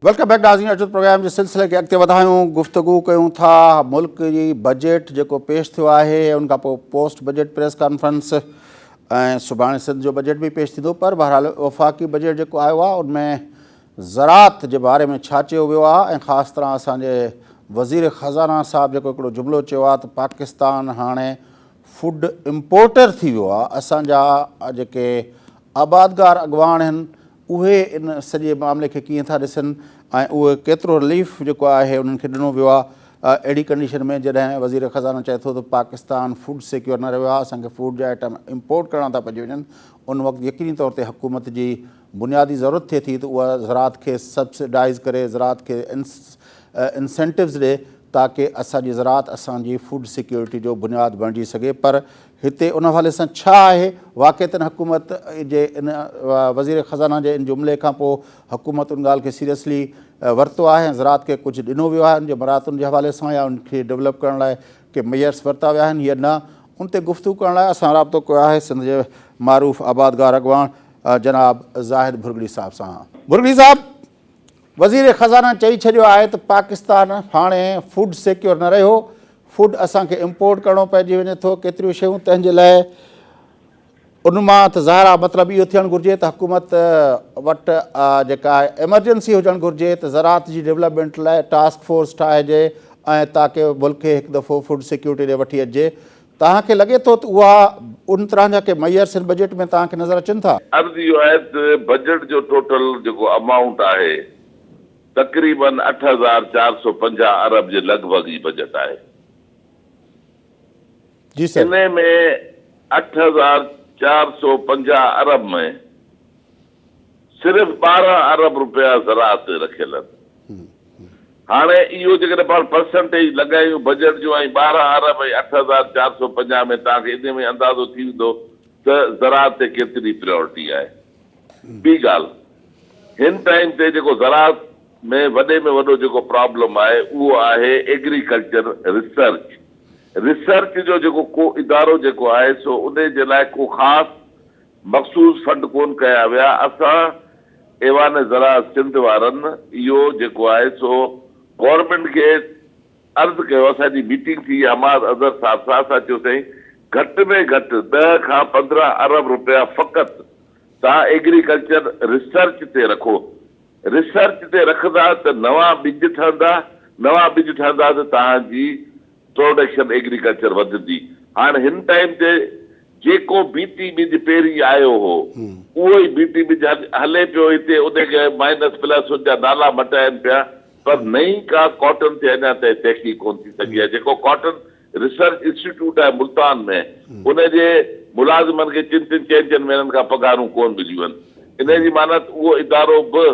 Welcome back ناظرين اچو programme جي سلسلي کي اڳتي وڌايون گفتگو ڪيون ٿا ملڪ جي بجيٽ جيڪو پيش ٿيو آهي ان کان پوء پوسٽ بجيٽ پريس ڪانفرنس ۽ سڀاڻي سنڌ جو بجيٽ به پيش ٿيندو پر بهرحال وفاقي بجيٽ جيڪو آيو آهي ان ۾ زراعت جي باري ۾ ڇا چيو ويو آهي ۽ خاص طرح اسان جي وزير خزانه صاحب جيڪو هڪڙو جملو چيو آهي ته پاڪستان هاڻي فوڊ امپورٽر ٿي ويو آهي اسان جا جيڪي آبادگار اڳواڻ هن اهي ان سڄي معاملي کي ڪيئن ٿا ڏسن ۽ اهو ڪيترو رليف جيڪو آهي انهن کي ڏنو ويو آهي اهڙي ڪنڊيشن ۾ جڏهن وزير خزانه چئي ٿو ته پاڪستان فوڊ سيڪيور نه رهيو آهي اسان کي فوڊ جا آئٽم امپورٽ ڪرڻا ٿا پئجي وڃن ان وقت يقيني طور تي حڪومت جي بنيادي ضرورت ٿئي ٿي ته اها زراعت کي سبسڊائيز ڪري، زراعت کي انسينٽوز ڏئي تاڪه اسان جي زراعت اسان جي فوڊ سيڪيورٽي جو بنياد بڻجي سگهي پر هتي ان حوالي سان ڇا آهي؟ واقعتن حڪومت جي ان وزير خزانه جي ان جملي کان پوء حڪومت ان ڳالهه کي سيريسلي ورتو آهي ۽ زراعت کي ڪجهه ڏنو ويو آهي ان جي مراعتن جي حوالي سان يا ان کي ڊولپ ڪرڻ لاء ڪي ميئرس ورتا ويا آهن يا نه ان تي گفتگو ڪرڻ لاء اسان رابطو ڪيو آهي سنڌ جي معروف آبادگار اڳواڻ جناب زاهد ڀرڳڙي صاحب سان. ڀرڳڙي صاحب، وزير خزانه چئي ڇڏيو آهي ته پاڪستان هاڻي فوڊ سيڪيور نه رهيو، فوڊ اسان کي امپورٽ ڪرڻو پئجي وڃي ٿو ڪيتريون شيون تنهن جي لاء ان مان ته ظاهر آهي مطلب اهو ٿيڻ گهرجي ته حڪومت وٽ جيڪا ايمرجنسي هجڻ گهرجي ته زراعت جي ڊيولپمينٽ لاء ٽاسڪ فورس ٺاهجي ۽ تاڪه ملڪ کي هڪ دفعو فوڊ سيڪيورٽي ڏي وٺي اچجي توهان کي لڳي ٿو ته اها ان طرح جا ڪي معيار سنڌ بجيٽ ۾ توهان کي نظر اچن ٿا؟ عرض اهو آهي ته بجيٽ جو ٽوٽل جيڪو امائونٽ آهي تقريبن اٺ هزار چار سؤ پنجاهه ارب جي لڳ ڀڳ هي بجيٽ آهي. جي سر. انهي ۾ اٺ هزار چار سؤ پنجاهه ارب ۾. صرف ٻارهن ارب رپيا زراعت تي رکيل آهن هاڻي اهو جيڪڏهن پاڻ پرسنٽيج لڳايون بجيٽ جو ۽ ٻارهن ارب ۽ اٺ هزار چار سؤ پنجاهه ۾ توهان کي انهي ۾ اندازو ٿي ويندو ته زراعت تي ڪيتري پريارٽي آهي ٻي ڳالهه هن ٽائيم تي جيڪو زراعت ۾ وڏي ۾ وڏو جيڪو پرابلم آهي اهو آهي ايگريڪلچر ريسرچ ريسرچ جو جيڪو ڪو ادارو جيڪو آهي سو انهي جي لاء ڪو خاص مخصوص فنڊ ڪون ڪيا ويا، اسان ايوان زراعت سنڌ وارن اهو جيڪو آهي سو گورنمينٽ کي عرض ڪيو، اسان جي ميٽنگ ٿي، حماد اظهر صاحب سان اسان چيو سائين گهٽ ۾ گهٽ ڏهه کان پندرهن ارب روپيا فقط توهان ايگريڪلچر ريسرچ تي رکو، ريسرچ تي رکندا ته نوان ٻج ٺهندا، نوان ٻج ٺهندا ته توهان جي پروڊڪشن ايگريڪلچر وڌندي. هاڻ هن ٽائيم تي جيڪو بيٽي ٻج پهرين آيو هو اهو ئي بيٽي ٻج هلي پيو هتي ان کي مائنس پلس ان جا نالا مٽائين پيا پر نئين ڪا ڪاٽن تي اڃا تائين تحقيق ڪونه ٿي سگهي آهي جيڪو ڪاٽن ريسرچ انسٽيٽيوٽ آهي ملتان ۾ ان جي ملازمن کي چن چن چئن چئن مهينن کان پگهارون ڪونه مليون آهن ان جي معنيٰ ته اهو ادارو به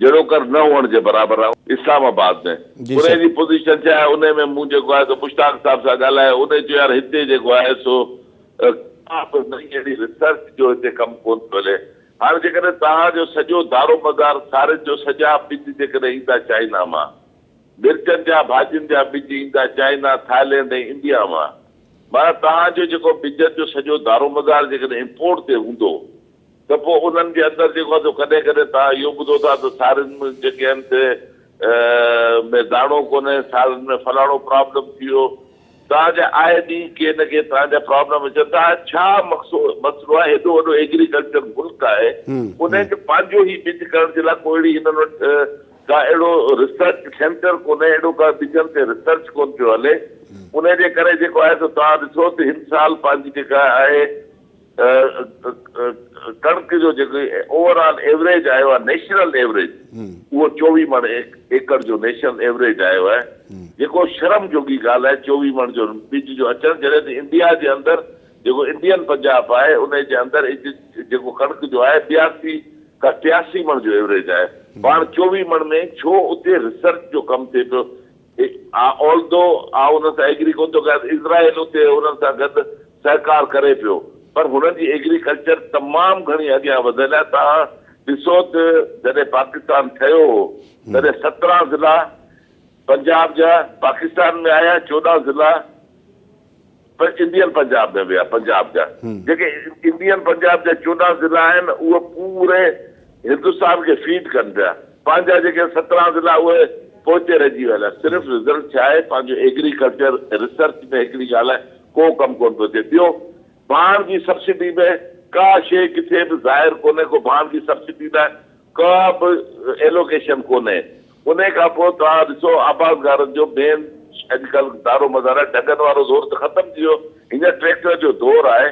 جهڙو ڪر نه هئڻ جي برابر آهي اسلام آباد ۾ جي انهي سر. جي پوزيشن ڇا آهي انهي ۾ مون جيڪو آهي سو مشتاق صاحب سان ڳالهايو انهي چيو يار هتي جيڪو آهي سو ڪا به نئين اهڙي ريسرچ جو هتي ڪم ڪون ٿو هلي هاڻ جيڪڏهن توهان جو سڄو دارو مدار سارين جو سڄا ٻج جيڪڏهن ايندا چائنا مان مرچن جا ڀاڄين جا ٻج ايندا چائنا ٿائلينڊ ۽ انڊيا مان معنيٰ توهان جو جيڪو ٻجن جو سڄو دارو مدار جيڪڏهن امپورٽ تي هوندو ته پوء انهن جي اندر جيڪو آهي سو ڪڏهن ڪڏهن توهان اهو ٻڌو ٿا ته سارين ۾ جيڪي آهن سي ۾ داڻو ڪونهي، سارين ۾ فلاڻو پرابلم ٿي ويو. توهان جا آء ڏينهن ڪي نه ڪي توهان جا پرابلم اچن ٿا. ڇا مقصو مسئلو آهي هيڏو وڏو ايگريڪلچر ملڪ آهي انهن کي پنهنجو هي ٻج ڪرڻ جي لاء ڪو اهڙي هنن وٽ ڪا اهڙو ريسرچ سينٽر ڪونهي اهڙو ڪا ٻجن تي ريسرچ ڪونه پيو هلي انهي جي ڪري جيڪو آهي سو توهان ڏسو ته هن سال پنهنجي جيڪا آهي ڪڻڪ جو جيڪو اوور آل ايوريج آيو آهي نيشنل ايوريج اهو چوويهه مڻ ايڪڙ جو نيشنل ايوريج آيو آهي جيڪو شرم جوڳي ڳالهه آهي چوويهه مڻ جو ٻج جو اچڻ جڏهن ته انڊيا جي اندر جيڪو انڊين پنجاب آهي ان جي اندر جيڪو ڪڻڪ جو آهي ٻياسي کان ٽياسي مڻ جو ايوريج آهي پاڻ چوويهه مڻ ۾ ڇو اتي ريسرچ جو ڪم ٿئي پيو آلدو آئون انهن سان ايگري ڪونه ٿو ڪيان اسرائيل اتي انهن سان گڏ سهڪار ڪري پيو پر هنن جي ايگريڪلچر تمام گهڻي اڳيان وڌيل آهي توهان ڏسو ته جڏهن پاڪستان ٺهيو هو تڏهن سترهن ضلعا پنجاب جا پاڪستان ۾ آيا چوڏهن ضلعا انڊين پنجاب ۾ ويا پنجاب جا جيڪي انڊين پنجاب جا چوڏهن ضلعا آهن اهي پوري هندستان کي فيڊ ڪن پيا پنهنجا جيڪي سترهن ضلعا اهي پوئتي رهجي ويل آهن صرف رزلٽ ڇا آهي پنهنجو ايگريڪلچر ريسرچ ۾ هڪڙي ڳالهه آهي ڪو ڪم ڪونه پيو ٿئي. ٻيو ڀاڻ جي سبسڊي ۾ ڪا شيء ڪٿي به ظاهر ڪونهي ڪو ڀاڻ جي سبسڊي لاء ڪا به ايلوڪيشن ڪونهي. انهي کان پوء توهان ڏسو آبادگارن جو مين اڄڪلهه دارومدار آهي ڍڳن وارو دور ته ختم ٿي ويو هينئر ٽريڪٽر جو دور آهي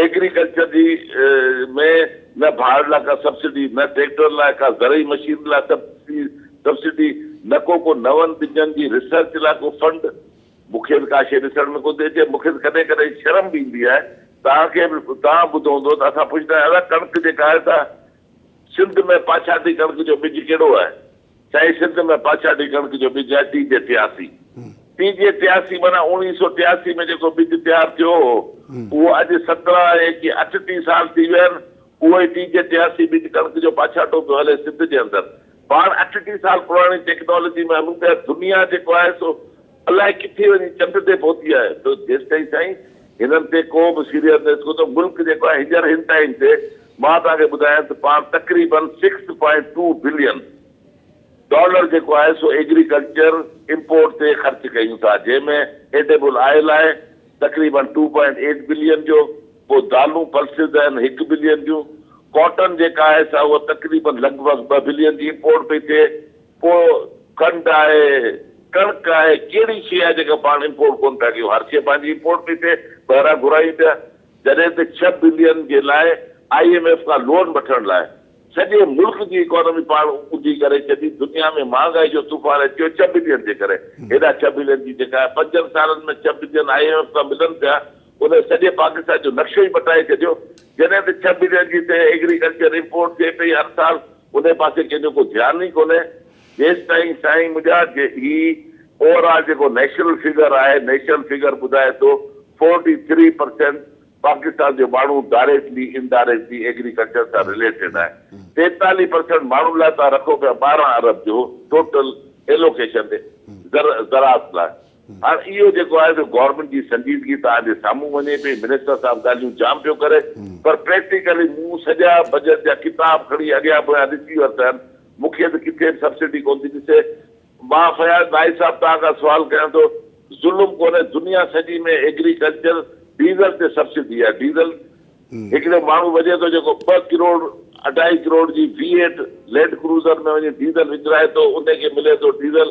ايگريڪلچر جي ۾ نه ڀاڙ لاء ڪا سبسڊي، نه ٽريڪٽرن لاء ڪا زرعي مشينري لاء سبسڊي، نه ڪو ڪو نون ٻجن جي ريسرچ لاء ڪو فنڊ. مون کي ته ڪا شيء ڏسڻ ۾ ڪونه ٿي اچي. مون کي ته ڪڏهن ڪڏهن شرم به ايندي آهي. توهان کي به توهان ٻڌو هوندو ته اسان پڇندا آهيون ادا ڪڻڪ جيڪا آهي سا سنڌ ۾ پاڇاٽي ڪڻڪ جو ٻج ڪهڙو آهي؟ سائين سنڌ ۾ پاڇاڍي ڪڻڪ جو ٻج آهي تيجهه ٽياسي. تيجهه ٽياسي معنيٰ اوڻيهه سؤ ٽياسي ۾ جيڪو ٻج تيار ٿيو هو اهو اڄ سترهن ۽ ڪي اٺٽيهه سال ٿي ويا آهن اهو ئي تيجهه ٽياسي ٻج ڪڻڪ جو پاڇاڍو پيو هلي سنڌ جي اندر پاڻ اٺٽيهه سال پراڻي ٽيڪنالاجي ۾ هلون پيا دنيا جيڪو آهي سو الاء ڪٿي وڃي چٽ تي پهتي آهي تو جيستائين سائين هنن تي ڪو به سيريس نيس ڪو ته ملڪ جيڪو آهي هنجر هن ٽائيم تي مان توهان کي ٻڌايان ته پاڻ تقريبن six point two billion dollar جيڪو آهي سو ايگريڪلچر امپورٽ تي خرچ ڪيون ٿا جنهن ۾ ايڊيبل آئل آهي تقريبن ٽو پوائنٽ ايٽ بلين جو پوء دالون پلسز آهن هڪ بلين جون ڪاٽن جيڪا آهي سا اها تقريبن لڳ ڀڳ ٻه بلين جي امپورٽ پئي ٿئي. پوء کنڊ آهي، ڪڻڪ آهي، ڪهڙي شيء آهي جيڪا پاڻ امپورٽ ڪونه ٿا ڪيون، هر شيء پنهنجي امپورٽ پئي ٿئي، ٻاهران گهرايون پيا، جڏهن ته ڇهه بلين جي لاء آء ايم ايف کان لون وٺڻ لاء سڄي ملڪ جي اڪانومي پاڻ اونڌي ڪري ڇڏي، دنيا ۾ مهانگائي جو طوفان اچي ويو ڇهه بلين جي ڪري، هيڏا ڇهه بلين جي جيڪا آهي پنجن سالن ۾ ڇهه بلين آء ايم ايف کان ملن پيا، ان سڄي پاڪستان جو نقشو ئي مٽائي ڇڏيو، جڏهن ته ڇهه بلين جي تي ايگريڪلچر امپورٽ ٿئي پئي هر سال، انهي پاسي ڪنهن جو ڪو ڌيان ئي ڪونهي جيستائين سائين منهنجا جي هي اوور آل جيڪو نيشنل فگر آهي نيشنل فگر ٻڌائي ٿو فورٽي ٿري پرسينٽ پاڪستان جو ماڻهو ڊائريڪٽلي ان ڊائريڪٽلي ايگريڪلچر سان رليٽيڊ آهي ٽيتاليهه پرسينٽ ماڻهن لاء تان رکو پيا ٻارهن ارب جو ٽوٽل ايلوڪيشن زر زراعت لاء هاڻ اهو جيڪو آهي سو گورنمينٽ جي سنجيدگي توهان جي سامهون وڃي پئي، منسٽر صاحب ڳالهيون جام پيو ڪري پر پريڪٽيڪلي مون سڄا بجيٽ جا ڪتاب کڻي اڳيان پويان ڏسي ورتا آهن، مون کي ته ڪٿي به سبسڊي ڪونه ٿي ڏسي. مان فياض نائي صاحب توهان کان سوال ڪيان ٿو، ظلم ڪونهي دنيا سڄي ۾ ايگريڪلچر ڊيزل تي سبسڊي آهي، ڊيزل هڪڙو ماڻهو وجهي ٿو جيڪو ٻه ڪروڙ اڍائي ڪروڙ جي وي ايٽ لينڊ ڪروزر ۾ وڃي ڊيزل وڪرائي ٿو انهي کي ملي ٿو ڊيزل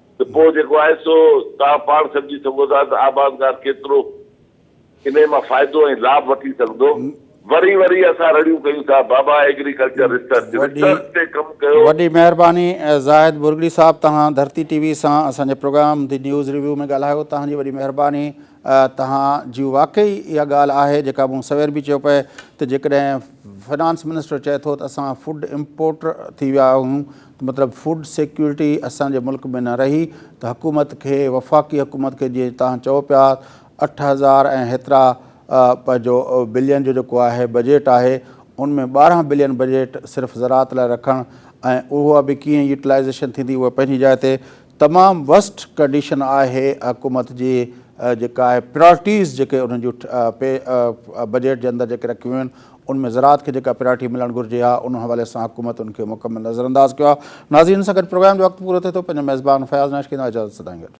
ته پوء جيڪو آهي سو توهان پاڻ سمجهي سگهو ٿا ته آبادگار ڪيترو انهي مان فائدو ۽ لاڀ وٺي سگهندو. وري وري اسان رڙيون ڪيون ٿا بابا ايگريڪلچر ريسرچ، ريسرچ تي ڪم ڪيو. وڏي مهرباني زاهد بورڳڙي صاحب توهان ڌرتي ٽي وي سان اسان جي پروگرام دي نيوز ريويو ۾ ڳالهايو توهان جي وڏي مهرباني توهان جي واقعي اها ڳالهه آهي جيڪا مون سوير به چيو پئي ته جيڪڏهن فنانس منسٽر چئي ٿو ته اسان فوڊ امپورٽر ٿي ويا آهيون مطلب فوڊ سيڪيورٽي اسان جي ملڪ ۾ نه رهي ته حڪومت کي وفاقي حڪومت کي جيئن تهان چئو پيا اٺ هزار ۽ هيترا پنهنجو بلين جو جيڪو آهي بجيٽ آهي ان ۾ ٻارهن بلين بجيٽ صرف زراعت لاء رکڻ ۽ اها به ڪيئن يوٽلائيزيشن ٿيندي اها پنهنجي جاء تي تمام ورسٽ ڪنڊيشن آهي حڪومت جي جيڪا آهي پريارٽيز جيڪي انهن جون بجيٽ جي اندر جيڪي رکيون ويون آهن ان ۾ زراعت کي جيڪا پريارٽي ملڻ گهرجي ها ان حوالي سان حڪومت ان کي مڪمل نظر انداز ڪيو آهي ناظرين سان گڏ پروگرام جو وقت پورو ٿئي ٿو پنهنجو ميزبان فياض ناشڪين لاء اجازت سدائين گڏ.